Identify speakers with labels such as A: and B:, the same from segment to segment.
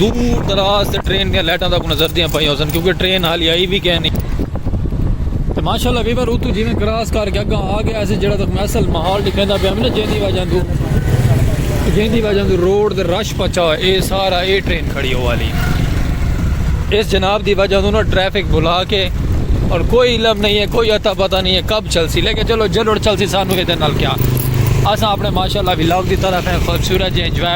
A: دور دراز تے ٹرین دیاں لائٹاں تک نظر دیاں پائیاں سن کیونکہ ٹرین حالی آئی بھی کہیں نہیں تے ماشاءاللہ ویور اتو جیویں کراس کر کے اگاں آ گیا ایسے جڑا تک میں اصل ماحول دکھیندا پیا میں جیندی وجہ دو جیندی وجہ دو روڈ دے رش پچا ہوئے اے سارا اے ٹرین کھڑی ہو والی اس جناب دی وجہ دو نا ٹریفک بھلا کے اور کوئی علم نہیں ہے کوئی عطا پتہ نہیں ہے کب چل سی لیکن چلو جلوڑ چل سی سانو یہ دن نال کیا اساں اپنے ماشاءاللہ ویلاگ دی طرف ہیں خوبصورت جی انجوائے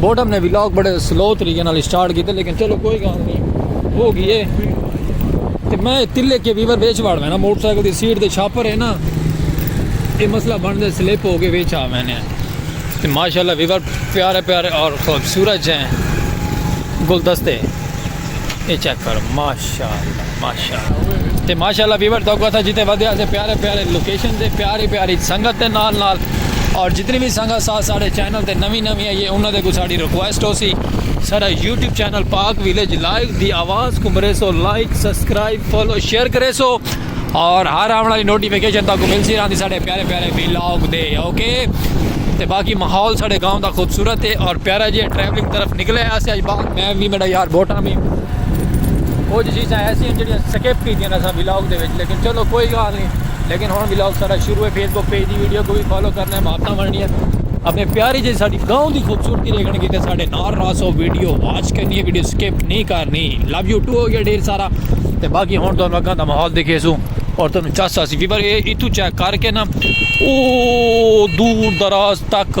A: بوڈم نے ویلاگ بڑے سلو طریقے نال سٹارٹ کیتے لیکن چلو کوئی گال نہیں ہو گئی ہے تے میں تلے کے ویور ویچ واڑ میں نا موٹر سائیکل دی سیٹ دے چھاپر ہے نا یہ مسئلہ بن دے سلپ ہو کے ویچ آ میں نے تے ماشاءاللہ ویور پیارے پیارے اور خوبصورت ہیں گلدستے یہ چیک کرو ماشاءاللہ ماشاءاللہ تے ماشاءاللہ ویور تو کو تھا جتے ودے اسے پیارے پیارے لوکیشن دے پیاری پیاری سنگت دے نال نال اور جتنی بھی سنگت سا ساڑے چینل تے نوی نوی آئیے انہاں دے کو ساڑی ریکویسٹ ہو سی سارا YouTube channel Pak village live دی آواز کو مرے سو لائک سبسکرائب فالو شیئر کرے سو اور ہر آن والی نوٹیفیکیشن تاکو مل سی راندی ساڑے پیارے پیارے ویلاگ دے اوکے تے باقی ماحول ساڑے گاؤں دا خوبصورت ہے اور پیارا جی ٹریولنگ طرف نکلے آسے آج باہر میں وی میڈا یار بوٹاں وی کچھ چیزاں ایسی ہیں جڑیاں سکپ کی دیاں اساں ولاگ دے وچ لیکن چلو کوئی گال نہیں لیکن ہن ولاگ سارا شروع ہے فیس بک پیج دی ویڈیو کو بھی فالو کرنا ہے محبتاں ورنی ہے اپنے پیاری جی ساڈی گاؤں دی خوبصورتی دیکھن کی تے ساڈے نار راسو ویڈیو واچ کرنی ہے ویڈیو سکپ نہیں کرنی لو یو ٹو ہو گیا ڈیر سارا تے باقی ہن تو اگاں دا ماحول دیکھے سو اور تم چس اسی بھی پر اے اتو چیک کر کے نا او دور دراز تک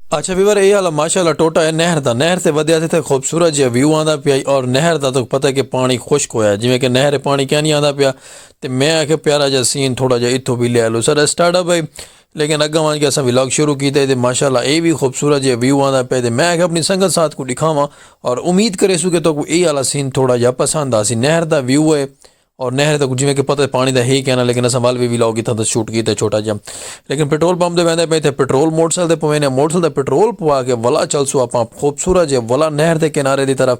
A: اچھا ویور اے والا ماشاءاللہ ٹوٹا ہے نہر دا نہر تے ودیا تے تھے خوبصورت جیا ویو آندا پیا اور نہر دا تو پتہ ہے کہ پانی خشک ہویا ہے جویں کہ نہر پانی کیا نہیں آندا پیا تے میں آکھے پیارا جا سین تھوڑا جا اتھو بھی لے لو سر اسٹارٹ اپ ہے لیکن اگا وان کے اسا ولاگ شروع کیتا ہے تے ماشاءاللہ اے بھی خوبصورت جیا ویو آندا پیا تے میں آکھے اپنی سنگت ساتھ کو دکھاواں اور امید کرے سو کہ تو کو اے والا سین تھوڑا جا پسند آسی نہر دا ویو ہے اور نہر تے جیویں کہ پتہ پانی دا ہی کہنا لیکن اساں ول وی ویلاگ اتھاں تاں شوٹ کیتے چھوٹا جیا لیکن پیٹرول پمپ دے ویندے پئیں تھے پیٹرول موٹر سائیکل تے پوینے موٹر سائیکل دا پیٹرول پوا کے ولا چلسو اپاں خوبصورت جے ولا نہر دے کنارے دی طرف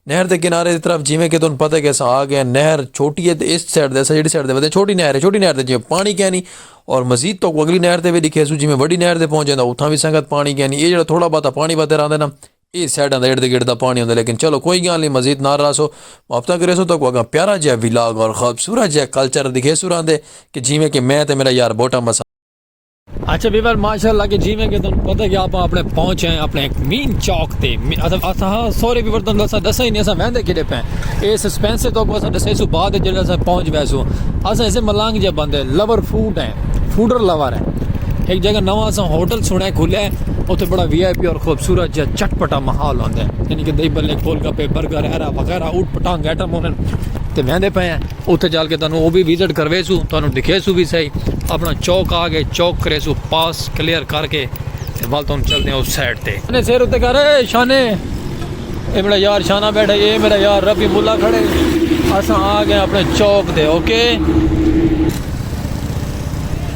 A: نہر دے کنارے دی طرف جیویں کہ تن پتہ کہ اساں آ گئے نہر چھوٹی ہے تے اس سائیڈ دے اساں جیڑی سائیڈ دے ویندے چھوٹی نہر ہے چھوٹی نہر دے جیویں پانی کینی اور مزید تو اگلی نہر تے وی ڈکھیسو جیویں وڈی نہر دے پہنچ جیندا اتھاں وی سنگت پانی کینی اے جیڑا تھوڑا بہت پانی ودھے راندے نا اے سائیڈاں دا ارد گرد دا پانی ہوندے لیکن چلو کوئی گال نی مزید نہ رہسو مابتا کریسو تاکو اگاں پیارا جیا ولاگ اور خوبصورت جیا کلچر دکھیسو راندے کہ جیویں کہ میں تے میرا یار بوٹا مسا اچھا بیور ماشاءاللہ کہ جیویں کہ تن پتہ کہ آپ اپنے پہنچے ہیں اپنے ایک مین چوک تے اساں سورے بیور تن اساں دسا ہی نہیں اساں ویندے کیڑے پے اے سسپینس سے تو اساں دسے سو بعد جڑا اساں پہنچ ویسو اساں اسے ملانگ جے بندے لور فوڈ ہیں فوڈر لور ہیں ایک جگہ نواں اساں ہوٹل سنڑے کھلیا ہے اوتھے بڑا وی آئی پی اور خوبصورت جا چٹ پٹا ماحول ہوندا ہے یعنی کہ دہی بھلے گول گپے برگر ایرا وغیرہ اوٹ پٹانگ ایٹم ہونن تے ویندے پئے ہیں اوتھے جال کے تانوں او بھی وزٹ کروے سو تانوں دکھے سو بھی صحیح اپنا چوک آ کے چوک کرے سو پاس کلیئر کر کے تے ول تانوں چل دے اس سائیڈ تے نے سیر اتے کر اے شانے اے میرا یار شانہ بیٹھا اے میرا یار ربی مولا کھڑے اساں آ گئے اپنے چوک تے اوکے okay?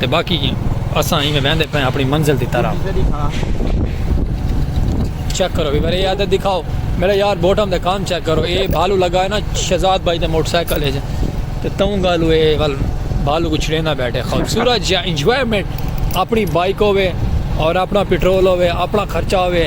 A: تے باقی اساں ایویں ویندے پئے اپنی منزل دی طرف چیک کرو ویور اے عادت دکھاؤ میرے یار بوٹم دے کام چیک کرو اے بھالو لگا ہے نا شہزاد بھائی دے موٹر سائیکل ہے تے توں گالو اے ول بھالو کو چھڑینا بیٹھے خوبصورت یا انجوائمنٹ اپنی بائیک ہوے اور اپنا پٹرول ہوے اپنا خرچہ ہوے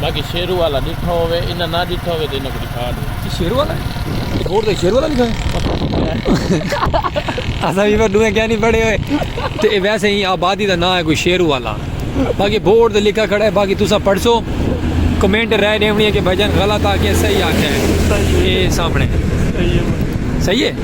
A: باقی شیرو والا ڈٹھا ہووے انہاں نہ ڈٹھا ہووے تے انہاں کوں ڈکھا ڈے اچھا شیرو والا ہے روڈ تے شیرو والا لکھا ہے اساں وی پر دوئے کیا نہیں پڑھے ہوئے تے ویسے ہی آبادی دا نام ہے کوئی شیرو والا باقی بورڈ تے لکھا کھڑا ہے باقی تساں پڑھ سو کمنٹ رائے ڈیونی ہے کہ بھائی جان غلط آ کے صحیح آ کے صحیح ہے سامنے صحیح ہے صحیح ہے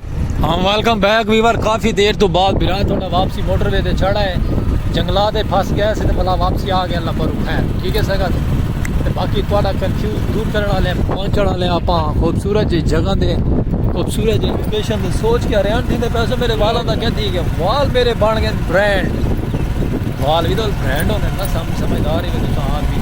A: ہم ویلکم بیک ویور کافی دیر تو بعد بھرا تھوڑا واپسی موٹر وے تے چڑھا ہے جنگلا دے پھس گئے سے تے بلا واپسی آ گیا اللہ پر خیر ٹھیک ہے سگا تے باقی تھوڑا کنفیوز دور کرن والے پہنچن والے اپا خوبصورت جی جگہ دے خوبصورت جی لوکیشن دے سوچ کے ہریان تھی دے پیسے میرے والا دا کیا تھی گیا وال میرے بن گئے برانڈ وال بھی تو برانڈ ہونے نا سمجھدار ہی میں تو کہاں بھی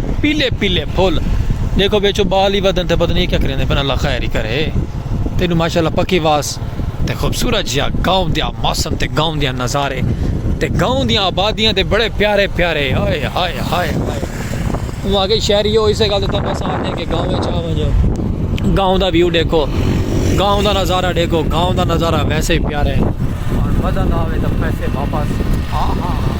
A: پیلے پیلے پھل دیکھو بیچو بال ہی بدن تے پتہ نہیں کیا کریندے پن اللہ خیر ہی کرے تینو ماشاءاللہ پکی واس تے خوبصورت جیا گاؤں دیا موسم تے گاؤں دیا نظارے تے گاؤں دیا آبادیاں تے بڑے پیارے پیارے ہائے ہائے ہائے ہائے وہ آگے شہری ہو اسے گل تنو سا آدھے کہ گاؤں میں چاہ ونجو گاؤں دا ویو دیکھو گاؤں دا نظارہ دیکھو گاؤں دا نظارہ ویسے ہی پیارے اور مزہ نہ آوے تو پیسے واپس ہاں ہاں ہاں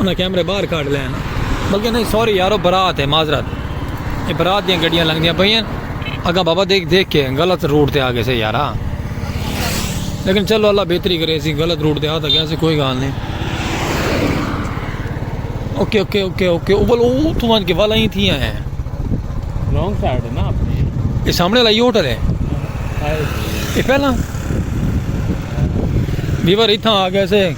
A: انہاں کیمرے باہر کڈھ لئے ہن۔ بلکہ نہیں سوری یارو برات ہے معذرت اے برات دیاں گڈیاں لنگدیاں پئیاں ہن اگاں بابا دیکھ دیکھ کے غلط روٹ تے آگئے سے یارا لیکن چلو اللہ بہتری کرے اسی غلط روٹ تے آ تاں گئے سے کوئی گال نہیں اوکے اوکے اوکے اوکے او بل او تو ونج کے والا ہی تھی ہیں رونگ سائیڈ ہے نا اپنی اے سامنے لائی ہوٹل ہے اے پہلا بیور اتھاں آ گئے سے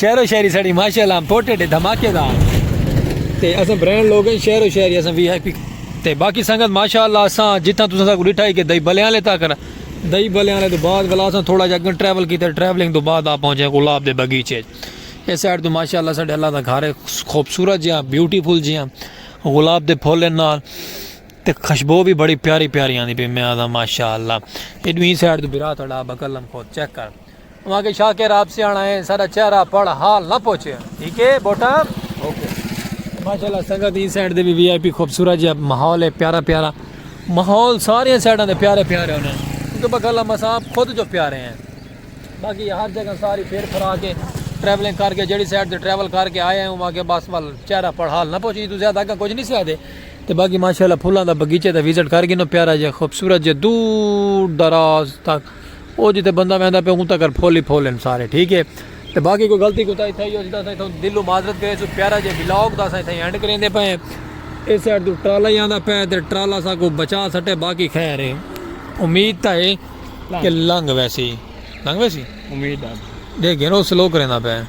A: شہر و شہری سڑی ماشاءاللہ امپورٹڈ ہے دھماکے دا تے اساں برانڈ لوگ ہیں شہر و شہری اساں وی آئی پی تے باقی سنگت ماشاءاللہ اساں جتھاں تساں ساکو ڈٹھا ہے کہ دئی بلیاں لے تاکر دئی بلیاں لے تو بعد والا اساں تھوڑا جا گن ٹریول کیتے ٹریولنگ تو بعد آ پہنچے گلاب دے بگیچے اس سائیڈ تو ماشاءاللہ ساڈے اللہ دا گھر ہے خوبصورت جیاں بیوٹیفل جیاں گلاب دے پھول ہیں نال تے خوشبو بھی بڑی پیاری پیاری آندی پی میں آدھا ماشاءاللہ ایڈویں سائیڈ تو برا تھڑا بکلم خود چیک کر اواں کے شاکر آپ سیاݨا ہے ساڈا چہرہ پڑھ حال نہ پوچھے ٹھیک ہے بوٹا اوکے ماشاءاللہ سنگت دی سائیڈ دے وی آئی پی خوبصورت جی ماحول ہے پیارا پیارا ماحول ساری سائیڈاں دے پیارے پیارے ہونے کیونکہ بکلا مساپ خود جو پیارے ہیں باقی ہر جگہ ساری پھر پھرا کے ٹریولنگ کر کے جڑی سائیڈ دے ٹریول کر کے آئے ہیں وہاں کے بس وال چہرہ پڑھ حال نہ پوچھے تو زیادہ کا کچھ نہیں سیا دے تے باقی ماشاءاللہ پھولاں دا بغیچے دا وزٹ کر گئے نو پیارا جی خوبصورت جی دور دراز تک او جتھے بندہ ویندا پے اون تکر پھول ہی پھول ہن سارے ٹھیک ہے تے باقی کوئی غلطی کوتاہی تھئی ہوسی تاں اساں اتھاں دلوں معذرت کرے سوں پیارا جے ولاگ دا اساں اتھاں اینڈ کریندے پئے ہیں اس سائیڈ توں ٹرالا ہی آندا پے تے ٹرالا ساکوں بچا سٹے باقی خیر ہے امید تاں ہے کہ لنگ ویسی لنگ ویسی امید ہے دیکھ گھنو سلو کریندا پے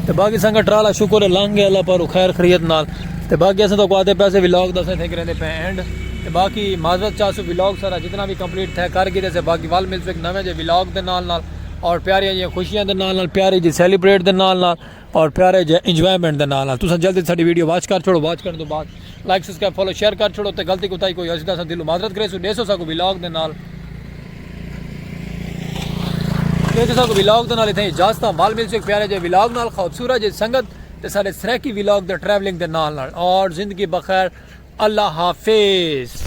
A: تے باقی سنگا ٹرالا شکر ہے لنگ گیا اللہ پارو خیر خریت نال تے باقی اساں تو کو آتے پیسے ویلاگ دا سے تھے کریں دے پہ اینڈ تے باقی معذرت چاہ سو ویلاگ سارا جتنا بھی کمپلیٹ تھے کر گئے سے باقی وال مل سو ایک نویں جے ویلاگ دے نال نال اور پیاری جی خوشیاں دے نال نال پیاری جی سیلیبریٹ دے نال نال اور پیارے جے انجوائمنٹ دے نال نال تساں جلدی ساڈی ویڈیو واچ کر چھوڑو واچ کرن تو بعد لائک سبسکرائب فالو شیئر کر چھوڑو تے غلطی کوتاہی کوئی ہوسی تاں اساں دلوں معذرت کریسوں ڈیسو ساکوں ویلاگ دے نال ڈیسو ساکوں ویلاگ دے نال اتھے اجازت مال مل سک پیارے جے ویلاگ نال خوبصورت جے سنگت تے سارے سریکی ویلاگ دے ٹریولنگ دے نال نال اور زندگی بخیر اللہ حافظ